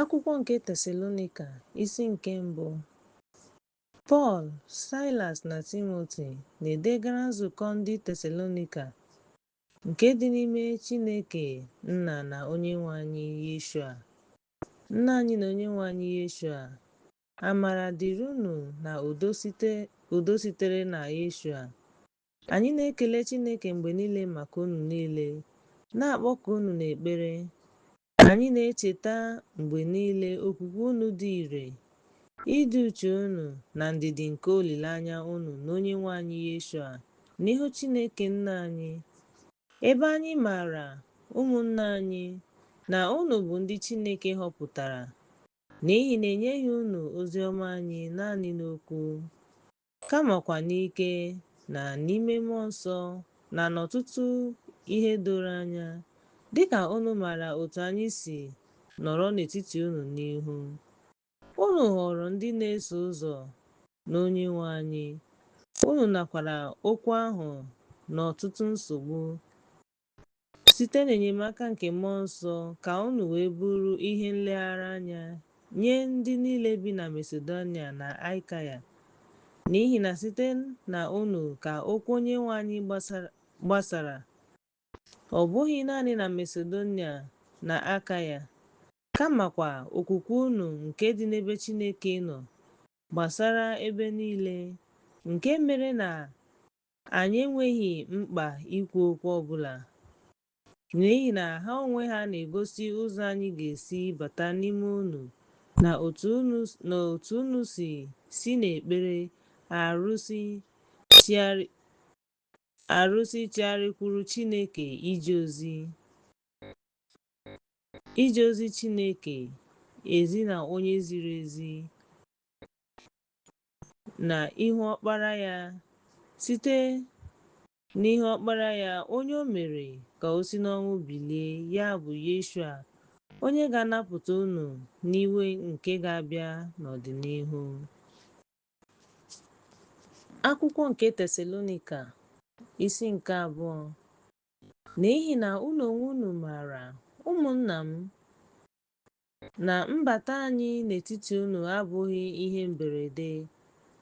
Akwụkwọ nke Tesalonika, isi nke mbụ. Pọl, Saịlas na Timoti na-edegara nzukọ ndị Tesalonika nke dị n'ime Chineke Nna na Onyenwe anyị Yeshua. Nna anyị na Onyenwe anyị Yeshua, amara dịrị unu na udo sitere na Yeshua, Anyị na-ekele Chineke mgbe niile maka unu niile, na-akpọku unu n'ekpere. Anyị na-echeta mgbe niile okwukwe unu dị ire, ịdị uchu unu, na ndidi nke olileanya unu n'Onyenwe anyị Yeshua n'ihu Chineke Nna anyị. Ebe anyị maara, ụmụnna anyị, na unu bụ ndị Chineke họpụtara, n'ihi na enyeghị unu ozi ọma anyị naanị n'okwu, kamakwa n'ike na n'ime Mmụọ Nsọ na n'ọtụtụ ihe doro anya, dịka unu maara otu anyị si nọrọ n'etiti unu n'ihu unu ghọrọ ndị na-eso ụzọ n'Onyenwe anyị, unu nakwara okwu ahụ n'ọtụtụ nsogbu Site n'enyemaka nke Mmụọ Nsọ, ka unu wee bụrụ ihe nleghara anya nye ndị niile bi na Masedonia na Akaia, n'ihi na site na unu ka okwu Onyenwe anyị gbasara, ọ bụghị naanị na Masedonia na Akaia, kamakwa okwukwe unu nke dị n'ebe Chineke nọ gbasara ebe niile, nke mere na Anyị enweghị mkpa ikwu okwu ọ bụla n'ihi na ha onwe ha na-egosi ụzọ anyị ga-esi bata n'ime unu na otu unu si si n'ekpere arụsị chigharịkwuru Chineke ije ozi Chineke ezi na onye ziri ezi. na ihu Ọkpara ya, site n'ihe Ọkpara ya, onye o mere ka o si n'ọnwụ bilie, ya bụ Yeshua, onye ga-anapụta unu n'iwe nke ga-abịa n'ọdịnihu. Akwụkwọ nke Tesalonika, isi nke abụọ. N'ihi na unu onwe unu maara, ụmụnna m, Na mbata anyị n'etiti unu abụghị ihe mberede,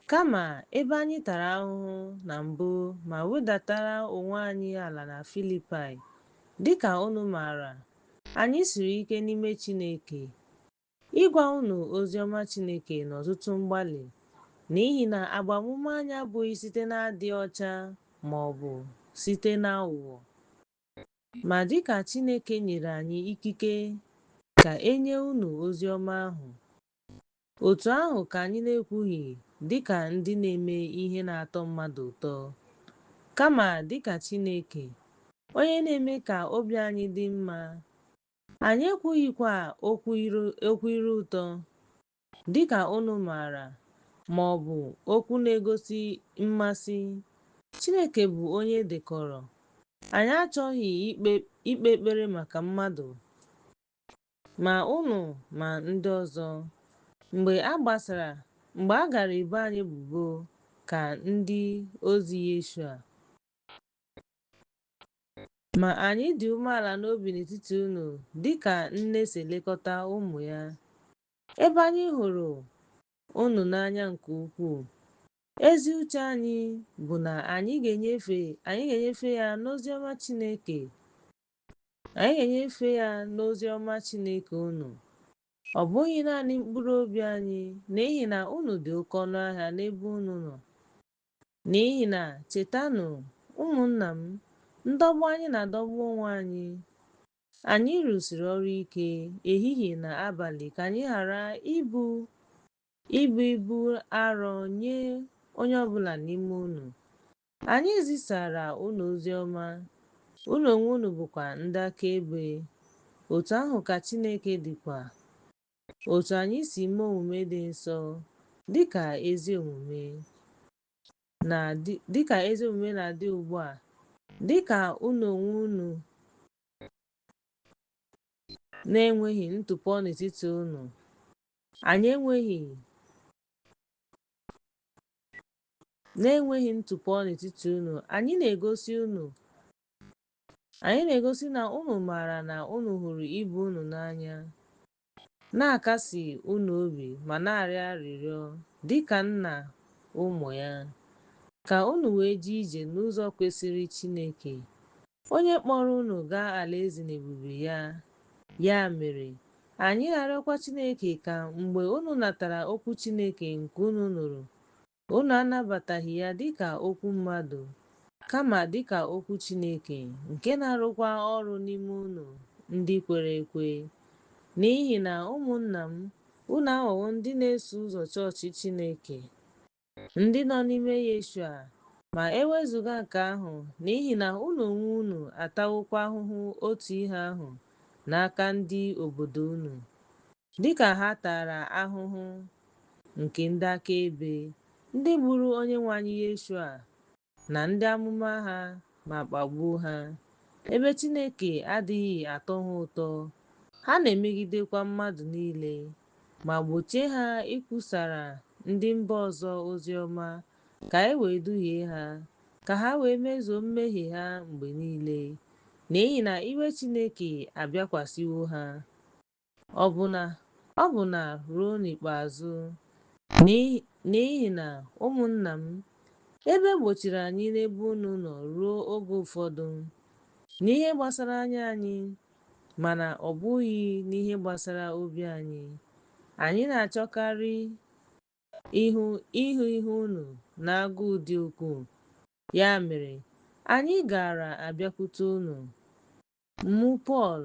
kama ebe anyị tara ahụhụ na mbụ ma wedatara onwe anyị ala na Filipaị, dị ka unu maara, anyị siri ike n'ime Chineke ịgwa unu ozi ọma Chineke n'ọtụtụ mgbalị, n'ihi na agbamume anyị abụghị site n'adị ọcha ma ọ bụ site n'aghụghọ. Ma dị ka Chineke nyere anyị ikike ka e nye unu ozi ọma ahụ, otu ahụ ka anyị na-ekwughị dị ka ndị na-eme ihe na-atọ mmadụ ụtọ, kama dị ka Chineke, onye na-eme ka obi anyị dị mma, anyị ekwughịkwa okwu ire ụtọ, Dị ka unu maara, ma ọ bụ okwu na-egosi mmasị, Chineke bụ onye dekọrọ. Anyị achọghị ikpe ekpere maka mmadụ, ma unu ma ndị ọzọ. Mgbe a gbasara, mgbe a gara ebo anyị ebubo ka ndị ozi Yeshua. Ma anyị dị umeala n'obi n'etiti unu dị ka nne si elekọta ụmụ ya, Ebe anyị hụrụ unu n'anya nke ukwuu, ezi uche anyị bụ na anyị ga-enyefe anyị ga-enyefe ya n'ozi ọma Chineke. Anyị ga-enyefe ya n'ozi ọma Chineke unu. Ọ bụghị naanị mkpụrụ obi anyị, n'ihi na unu dị oke ọnụ ahịa n'ebe unu nọ. N'ihi na chetanụ, ụmụnna m, ndọgbu anyị na-adọgbu onwe anyị Anyị rụsiri ọrụ ike ehihie na abalị ka anyị ghara ịbụ ibu ibu arọ nye onye ọ bụla n'ime unu. Anyị zisara unu ozi ọma, unu onwe unu bụkwa ndị akaebe. Otu ahụ ka Chineke dịkwa, otu anyị si mee omume dị nsọ, dị ka ezi omume. na-adị dịka ezi omume na-adị ugbu a dịka unu onwe unu na-enweghị ntụpọ n'etiti unu na-enweghị ntụpọ n'etiti unu anyị na-egosi unu anyị na-egosi na unu maara na unu hụrụ ibe unu n'anya Na-akasi unu obi ma na-arịọ arịrịọ dị ka nna ụmụ ya, ka unu wee jee ije n'ụzọ kwesịrị Chineke, onye kpọrọ unu gaa alaeze na ebube ya. Ya mere, anyị ga-arịọkwa Chineke ka mgbe unu natara okwu Chineke nke unu nụrụ, Unu anabataghị ya dị ka okwu mmadụ, kama dị ka okwu Chineke, nke na-arụkwa ọrụ n'ime unu ndị kwere ekwe. N'ihi na, ụmụnna m, unu aghọwo ndị na-eso ụzọ chọọchị Chineke, ndị nọ n'ime Yeshua, ma e wezụga nke ahụ, n'ihi na unu onwe unu atawokwa ahụhụ otu ihe ahụ n'aka ndị obodo unu, dị ka ha tara ahụhụ nke ndị akaebe, ndị gburu Onyenwe anyị Yeshua na ndị amụma ha ma kpagbuo ha. Ebe Chineke adịghị atọ ha ụtọ, ha na-emegidekwa mmadụ niile ma gbochie ha ikwusara ndị mba ọzọ ozi ọma ka e wee duhie ha, ka ha wee mezuo mmehie ha mgbe niile, n'ihi na iwe Chineke abịakwasịwo ha. ọbụna ọbụna ruo n'ikpeazụ, n'ihi na, ụmụnna m, ebe e gbochiri anyị n'ebe unu nọ ruo oge ụfọdụ, n'ihe gbasara anya anyị, mana ọ bụghị n'ihe gbasara obi anyị, anyị na-achọkarị ịhụ ihu unu n'agụụ dị ukwuu, ya mere, anyị gaara abịakwute unu, mụ Pọl,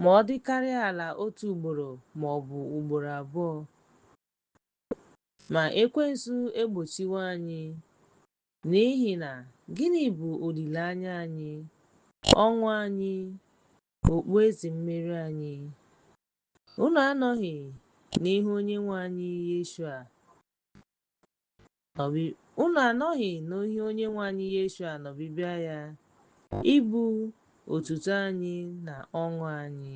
ma ọ dịkarịa ala otu ugboro ma ọ bụ ugboro abụọ. Ma Ekwensu egbochiwo anyị. N'ihi na gịnị bụ olileanya anyị, ọṅụ anyị, okpueze mmeri anyị? Unu anọghị n'ihu Onyenwe anyị Yeshua. Ọ bụ unu anọghị n'ihu Onyenwe anyị Yeshua n'ọbịbịa ya, ịbụ otuto anyị na ọṅụ anyị.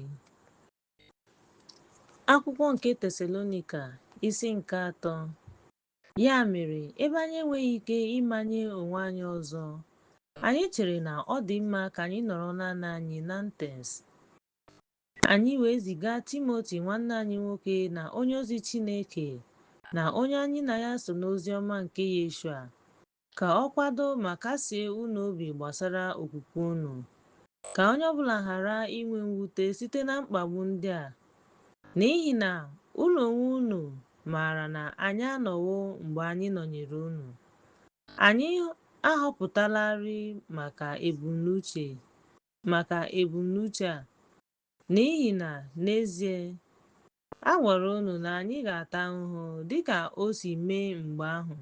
Akwụkwọ nke Tesalonika isi nke atọ Ya mere, ebe anyị enweghị ike ịmanye onwe anyị ọzọ, anyị chere na ọ dị mma ka anyị nọrọ naanị anyị n'Atens. Anyị wee ziga Timoti nwanne anyị nwoke na onye ozi Chineke na onye anyị na ya so n'ozi ọma nke Yeshua, ka ọ kwado ma kasie unu obi gbasara okwukwe unu. Ka onye ọbụla ghara inwe mwute site na mkpagbu ndị a, n'ihi na unu onwe unu maara na anyị anọwo mgbe anyị nọnyere unu. Anyị ahọpụtalarị maka ebumnuche maka ebumnuche a, n'ihi na n'ezie, a gwara unu na anyị ga-ata ahụhụ dị ka o si mee mgbe ahụ.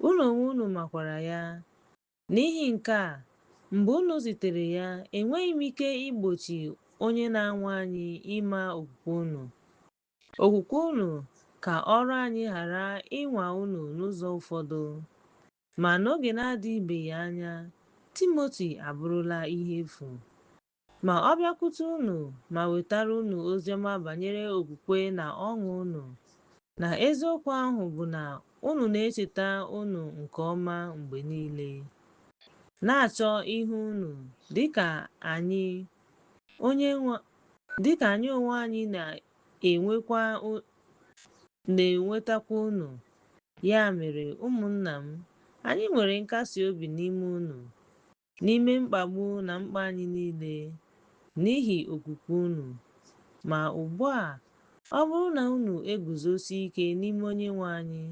Unu onwe unu makwara ya. N'ihi nke a, mgbe unu zitere ya, enweghị m ike igbochi onye na-anwa anyị ịma okwukwe unu. Okwukwe unu ka ọrụ anyị ghara ịnwa unu n'ụzọ ụfọdụ. Ma n'oge na-adịbeghị anya, Timoti abụrụla ihe efu. Ma ọ bịakwute unu ma wetara unu oziọma banyere okwukwe na ọṅụ unu, na eziokwu ahụ bụ na unu na-echeta unu nke ọma mgbe niile, na-achọ ịhụ unu, dịka anyị onwe anyị na na-enwetakwa unu. Ya mere, ụmụnna m, anyị nwere nkasi obi n'ime unu, n'ime mkpagbu na mkpa anyị niile, n'ihi okwukwe unu. Ma ugbu a, ọ bụrụ na unu eguzosi ike n'ime Onyenwe anyị,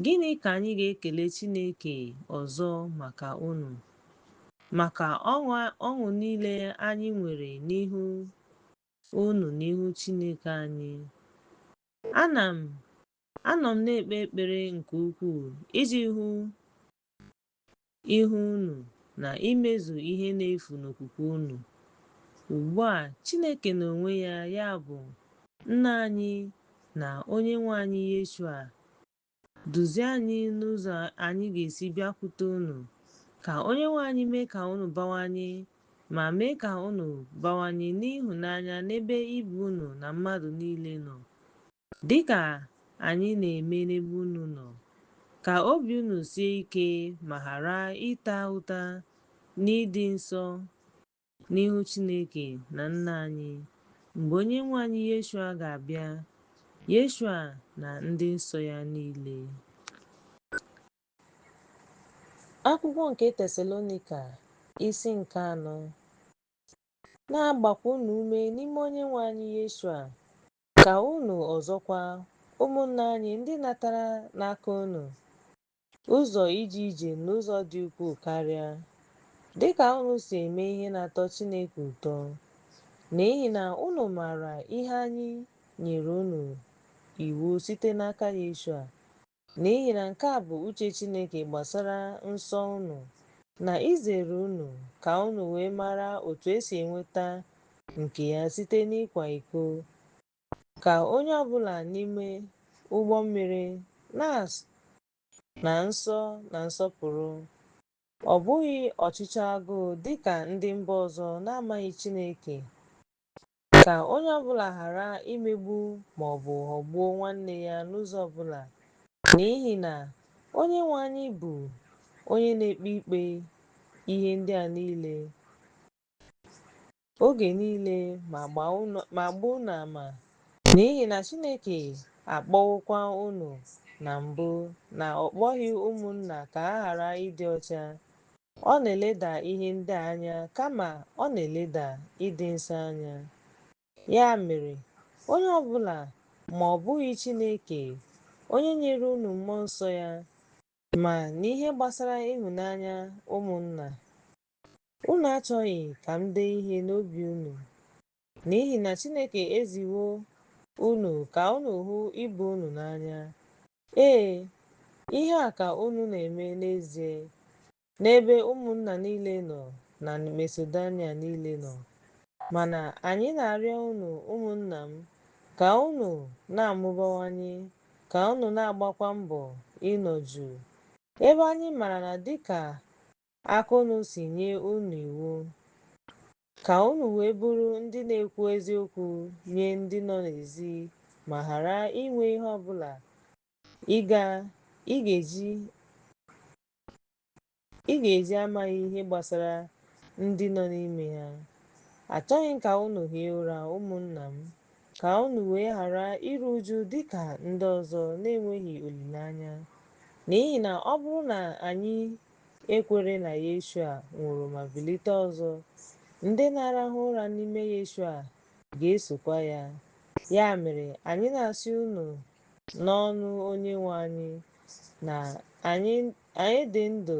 gịnị ka anyị ga-ekele Chineke ọzọ maka unu? Maka ọṅụ niile anyị nwere n'ihu unu n'ihu Chineke anyị. An, anọ m na-ekpe ekpere nke ukwuu iji hụ ihu unu na imezu ihe na-efu n'okwukwe unu. Ugbu a, Chineke n'onwe ya, ya bụ, Nna anyị na Onyenwe anyị Yeshua, Duzie anyị n'ụzọ anyị ga-esi bịakwute unu, ka Onyenwe anyị mee ka unu bawanye, ma mee ka unu bawanye n'ịhụnanya n'ebe ibe unu na mmadụ niile nọ, dịka anyị na-eme n'ebe unu nọ, ka obi unu sie ike ma ghara ịta ụta n'ịdị nsọ, n'ihu Chineke na Nna anyị mgbe Onyenwe anyị Yeshua ga-abịa, Yeshua na ndị nsọ ya niile. Akwụkwọ nke Tesalonika isi nke anọ na-agbakwa unu ume n'ime Onyenwe anyị Yeshua ka unu ọzọkwa ụmụnna anyị ndị natara n'aka unu Ụzọ ije ije n'ụzọ dị ukwuu karịa. Dị ka unu si eme ihe na-atọ Chineke ụtọ, n'ihi na unu maara ihe anyị nyere unu iwu site n'aka Yeshua, n'ihi na nke a bụ uche Chineke gbasara nsọ unu, na izere unu ka unu wee mara otu e si enweta nke ya site n'ịkwa iko, ka onye ọbụla n'ime ụgbọ mmiri na, na nsọ na nsọpụrụ, ọ bụghị ọchịchọ agụụ dị ka ndị mba ọzọ na-amaghị Chineke, ka onye ọbụla ghara imegbu ma ọ bụ ghọgbuo nwanne ya n'ụzọ ọbụla, n'ihi na Onyenwe anyị bụ onye na-ekpe ikpe ihe ndị a niile. oge niile ma gbaa unu ama n'ihi na Chineke akpọwokwa unu na mbụ na ọ kpọghị ụmụnna ka ha ghara ịdị ọcha. Ọ na-eleda ihe ndị a anya kama ọ na-eleda ịdị nsọ anya. Ya mere, onye ọ bụla ma ọ bụghị Chineke onye nyere unu mmụọ nsọ ya ma n'ihe gbasara ịhụnanya ụmụnna, Unu achọghị ka m dee ihe n'obi unu, n'ihi na Chineke eziwo unu ka unu hụ ibe unu n'anya. Ee, ihe a ka unu na-eme n'ezie n'ebe ụmụnna niile nọ na Masedonia niile nọ. Mana anyị na-arịọ unu ụmụnna m, ka unu na-amụbawanye, ka unu na-agbakwa mbọ ịnọ jụụ, ebe anyị mara na dịka aka unu si nye unu iwu, ka unu wee bụrụ ndị na-ekwu eziokwu nye ndị nọ n'ezi ma ghara inwe ihe ọ bụla ị ga ị ga-eji amaghị ihe gbasara ndị nọ n'ime ha. Achọghị m ka unu hie ụra, ụmụnna m, ka unu wee ghara iru uju dị ka ndị ọzọ na-enweghị olileanya. N'ihi na ọ bụrụ na anyị ekwere na Yeshua nwụrụ ma bilite ọzọ, ndị na-arahụ ụra n'ime Yeshua ga-esokwa ya. Ya mere, anyị na-asị unu n'ọnụ Onyenwe anyị na anyị dị ndụ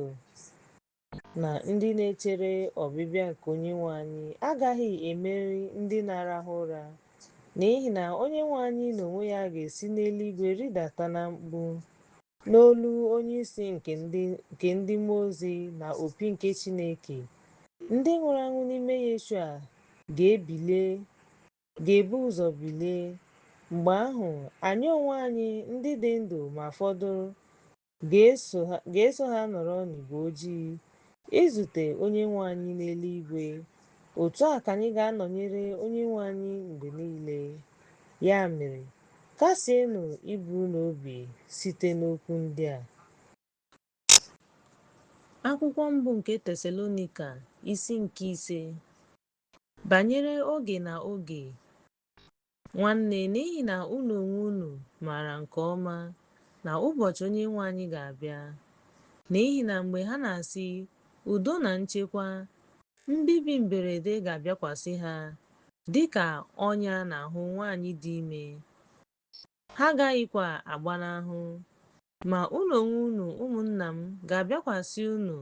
na ndị na-echere ọbịbịa nke Onyenwe anyị agaghị emeri ndị na-arahụ ụra, n'ihi na Onyenwe anyị n'onwe ya ga-esi n'eluigwe rịdata na mkpu, N'olu onye isi nke ndị mmụọ ozi na opi nke Chineke, ndị nwụrụ anwụ n'ime Yeshua ga-ebu ụzọ bilie. Mgbe ahụ, anyị onwe anyị, ndị dị ndụ ma fọdụrụ, ga-eso ha nọrọ n'igwe ojii izute Onyenwe anyị n'eluigwe. Otu a ka anyị ga-anọnyere Onyenwe anyị mgbe niile. Ya mere, Kasienụ ibe unu obi site n'okwu ndị a. Akwụkwọ mbụ nke Tesalonika isi nke ise. Banyere oge na oge, nwanne, n'ihi na unu onwe unu maara nke ọma na ụbọchị Onyenwe anyị ga-abịa, n'ihi na mgbe ha na-asị, Udo na nchekwa, Mbibi mberede ga-abịakwasị ha dị ka ọnya n'ahụ nwanyị dị ime, ha agaghịkwa agbanahụ. Ma unu onwe unu, ụmụnna m, ga-abịakwasị unu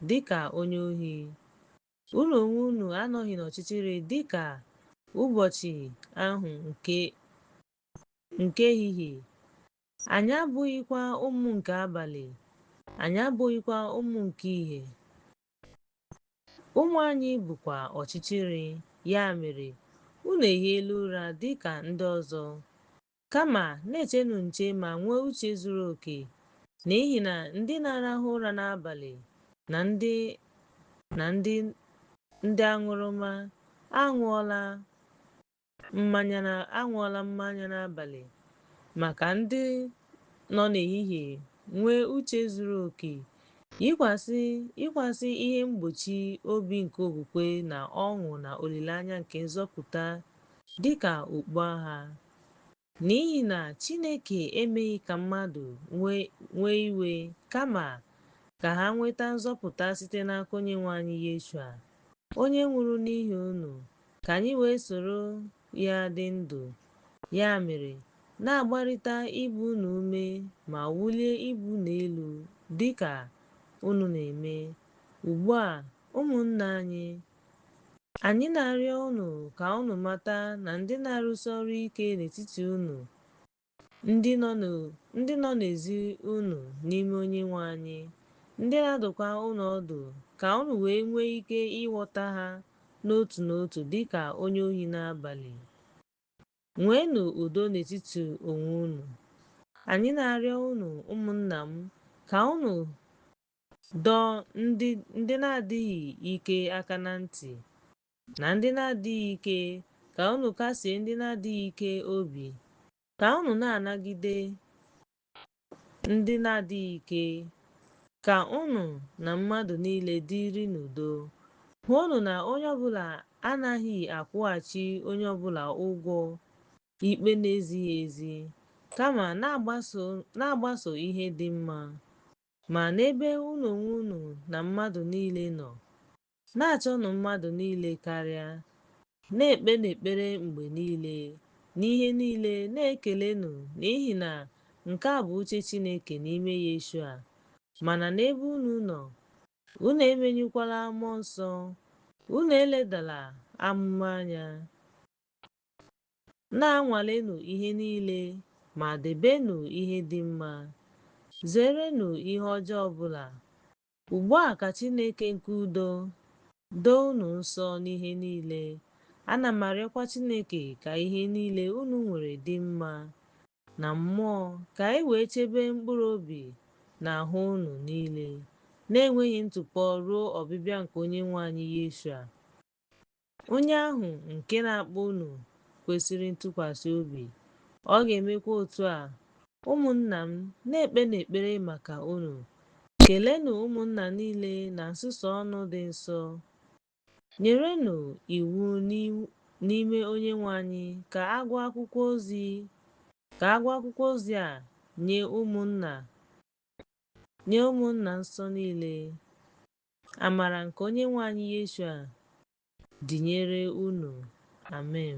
dị ka onye ohi. Unu onwe unu anọghị n'ọchịchịrị dị ka ụbọchị ahụ nke ehihie, anyị abụghịkwa ụmụ nke abalị, anyị abụghịkwa ụmụ nke ihe. Ụmụ anyị bụkwa ọchịchịrị, ya mere, unu ehiela ụra dị ka ndị ọzọ. Kama, na-echenụ nche ma nwee uche zuru oke, n'ihi na ndị na-arahụ ụra n'abalị na ndị na ndị ndị aṅụrụma aṅụọla Mmanya na aṅụọla mmanya n'abalị maka ndị nọ n'ehihie nwee uche zuru oke, yikwasị ihe mgbochi obi nke okwukwe na ọṅụ na olileanya nke nzọpụta dị ka okpu agha. N'ihi na Chineke emeghị ka mmadụ nwee iwe, kama ka ha nweta nzọpụta site n'aka Onyenwe anyị Yeshua, onye nwụrụ n'ihi unu, ka anyị wee soro ya dị ndụ. Ya mere, na-agbarịta ibe unu ume ma wulie ibe unu elu dị ka unu na-eme ugbu a, ụmụnna anyị, Anyị na-arịọ unu ka unu mata na ndị na-arụsi ọrụ ike n'etiti unu, ndị nọ n'ezi unu n'ime Onyenwe anyị, ndị na-adụkwa unu ọdụ ka unu wee nwee ike ịghọta ha n'otu n'otu dị ka onye ohi n'abalị. Nweenụ udo n'etiti onwe unu. Anyị na-arịọ unu, ụmụnna m, ka unu dọọ ndị na-adịghị ike aka na ntị na ndị na-adịghị ike ka unu kasie ndị na-adịghị ike obi ka unu na-anagide ndị na-adịghị ike ka unu na mmadụ niile dịrị n'udo hụnụ na onye ọbụla anaghị akwụghachi onye ọbụla ụgwọ ikpe na-ezighị ezi kama na-agbaso ihe dị mma Ma n'ebe unu onwe unu na mmadụ niile nọ, na-achọnụ mmadụ niile karịa, na-ekpenụ ekpere mgbe niile, n'ihe niile na-ekelenụ n'ihi na nke a bụ uche Chineke n'ime Yeshua. Mana n'ebe unu nọ, unu emenyụkwala Mmụọ Nsọ, unu eledala amụma anya. Na-anwalenụ ihe niile, ma debenụ ihe dị mma. Zeerenụ ihe ọjọọ ọbụla. Ugbu a ka Chineke nke udo doo unu nsọ n'ihe niile. Ana m arịọkwa Chineke ka ihe niile unu nwere dị mma na mmụọ, ka e wee chebe mkpụrụ obi na ahụ unu niile na-enweghị ntụpọ ruo ọbịbịa nke Onyenwe anyị Yeshua. Onye ahụ nke na-akpọ unu kwesịrị ntụkwasị obi, ọ ga-emekwa otu a. Ụmụnna m, na-ekpenụ ekpere maka unu. Kelenụ ụmụnna niile na nsusu ọnụ dị nsọ. Nyerenụ iwu n'ime Onyenwe anyị ka a gụọ akwụkwọ ozi a nye ụmụnna nsọ niile. Amara nke Onyenwe anyị Yeshua dịnyere unu. Amen.